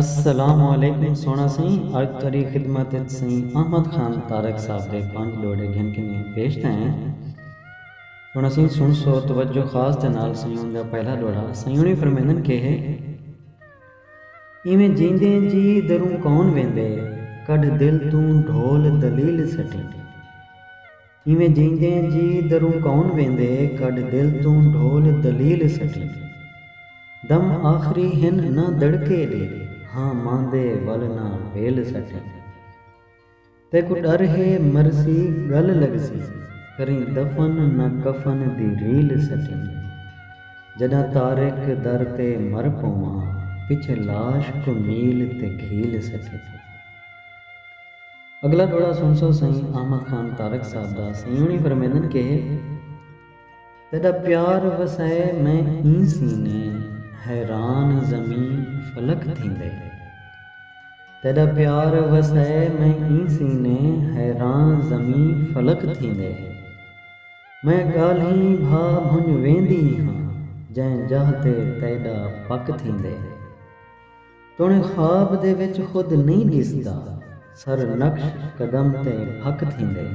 السلام علیکم سوہݨا سئیں اڄ تہاݙی خدمت اچ سئیں احمد خان تارک صاحب دے پنج ݙوہڑے گھن کنیں پیش تھئے ہیں سوہݨا سئیں سݨسو توجہ خاص دے نال سئیں اوں دا پہلا ݙوہڑا سئیں اݨی فرمیندن کہ ہے ایویں جیندے جی دروں کون ویندے کڈھ دل توں ڈھول دلیل سٹیں۔ کیویں جیندے جی دروں کون ویندے کڈھ دل توں ڈھول دلیل سٹی دم آخری ہن نہ دڑکے دی ہاں ماندے ول نہ ویل سٹی تیکوں ڈر ہے مرسی گل لگسی کریں دفن نہ کفن دی ریل سٹی جڈاں طارق در تے مر پواں پچھے لاش کوں میل تے گھیل سٹی۔ اگلا ڈوہڑا سنسو سئیں احمد خان تارک صاحب دا سئیں ہونی فرمیندن کہ تیڈا پیار وسائے میں ایں سینے حیران زمیں فلک تھیندے تیڈا پیار وسائے میں ایں سینے حیران زمیں فلک تھیندے میں گالھیں بھا بھنج ویندی ہاں جیں جاہ تے تیڈا پک تھیندے۔ تݨیں خواب دے وچ خود نئیں ݙسدا سر نقش قدم تے بھک تھیندے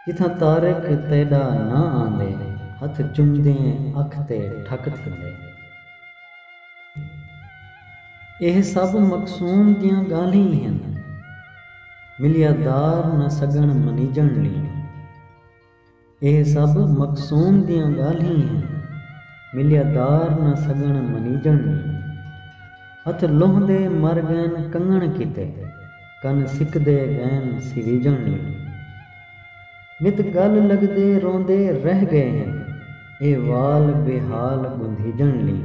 جتھاں طارق تیݙا ناں آندے ہتھ چمدیں اکھ تے ٹھک تھیندے ایہ سب مقصون دیاں ڳالھیں ہن ملیا دار نہ سڳݨ منیجݨ لیں۔ اے سب مقسوم دیاں ڳالھیں ہیں۔ ملیا دار نہ سڳݨ منیجݨ نی۔ ہتھ لوہندے مر ڳئن کنگݨ کیتے۔ کن سکدے ڳئن سویجݨ نی۔ نت ڳل لڳدے روندے رہ ڳئے ہیں۔ اے وال بے حال ڳندھیجݨ نی۔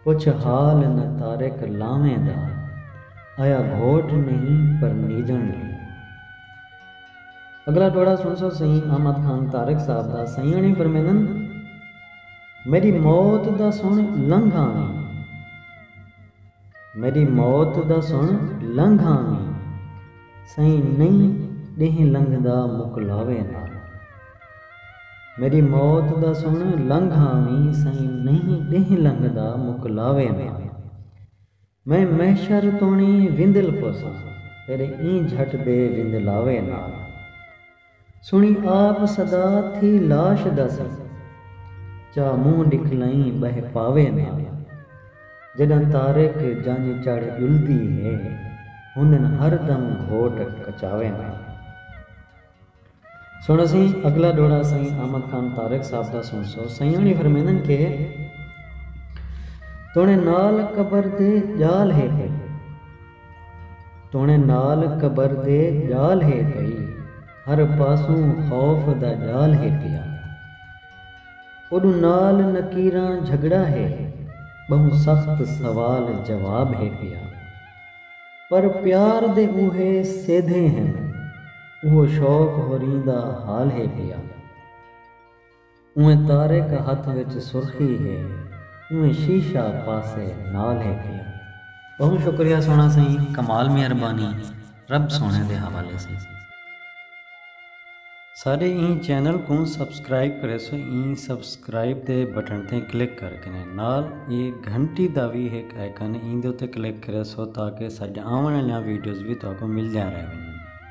پچھ حال نہ طارق لاویں دا۔ آیا گھوٹ نہیں پر نیجݨ لئی۔ اگلا ٹوڑا سنسو سئیں احمد خان طارق صاحب دا سئیں اݨی فرمیندن میݙی موت دا سݨ لنگھ آویں میݙی موت دا سݨ لنگھ آویں سئیں نئیں ݙینہہ لنگھدا مکلاوے نال۔ میݙی موت دا سݨ لنگھ آویں سئیں نئیں ݙینہہ لنگھدا مک لاوے نہ میں محشر توݨی وندل پوساں تیݙے ایں جھٹ دے وندلاوے نہ سݨی آپ صدا تھی لاش دا سئیں چا مونہہ ݙکھلئیں ٻہہ پاوے نہ جݙاں طارق جنڄ چڑھ ڄلدی ہے ہندن ہر دم گھوٹ کچاوے نہ۔ سݨ اسیں اڳلا ݙوہڑا سئیں احمد خان طارق صاحب دا سݨسو۔ سئیں ہوݨی فرمیندن کہ توݨے نال قبر دے ڄال ہے پئی۔ توݨے نال قبر دے ڄال ہے پئی۔ ہر پاسوں خوف دا ڄال ہے پیا۔ اوݙوں نال نکیراں جھڳڑا ہے۔ ٻہوں سخت سوال جواب ہے پیا۔ پر پیار دے اوہے سیدھے ہن اوہو شوق ہوریں دا حال ہے پیا اوہیں طارق ہتھ وچ سرخی ہے اوہیں شیشہ پاسے نال ہے پیا۔ ٻہوں شکریہ سوہݨا سئیں کمال مہربانی رب سوہݨے دے حوالے سئیں۔ ساڈے ایں چینل کوں سبسکرائب کریسو ایں سبسکرائب دے بٹن تے کلک کر کنے نال اے گھنٹی دا وی ہک آئیکن ایندے اتے کلک کریسو تاکہ ساڈیاں آوݨ آلیاں ویڈیوز وی تہاکوں ملدیاں رہ ونجن۔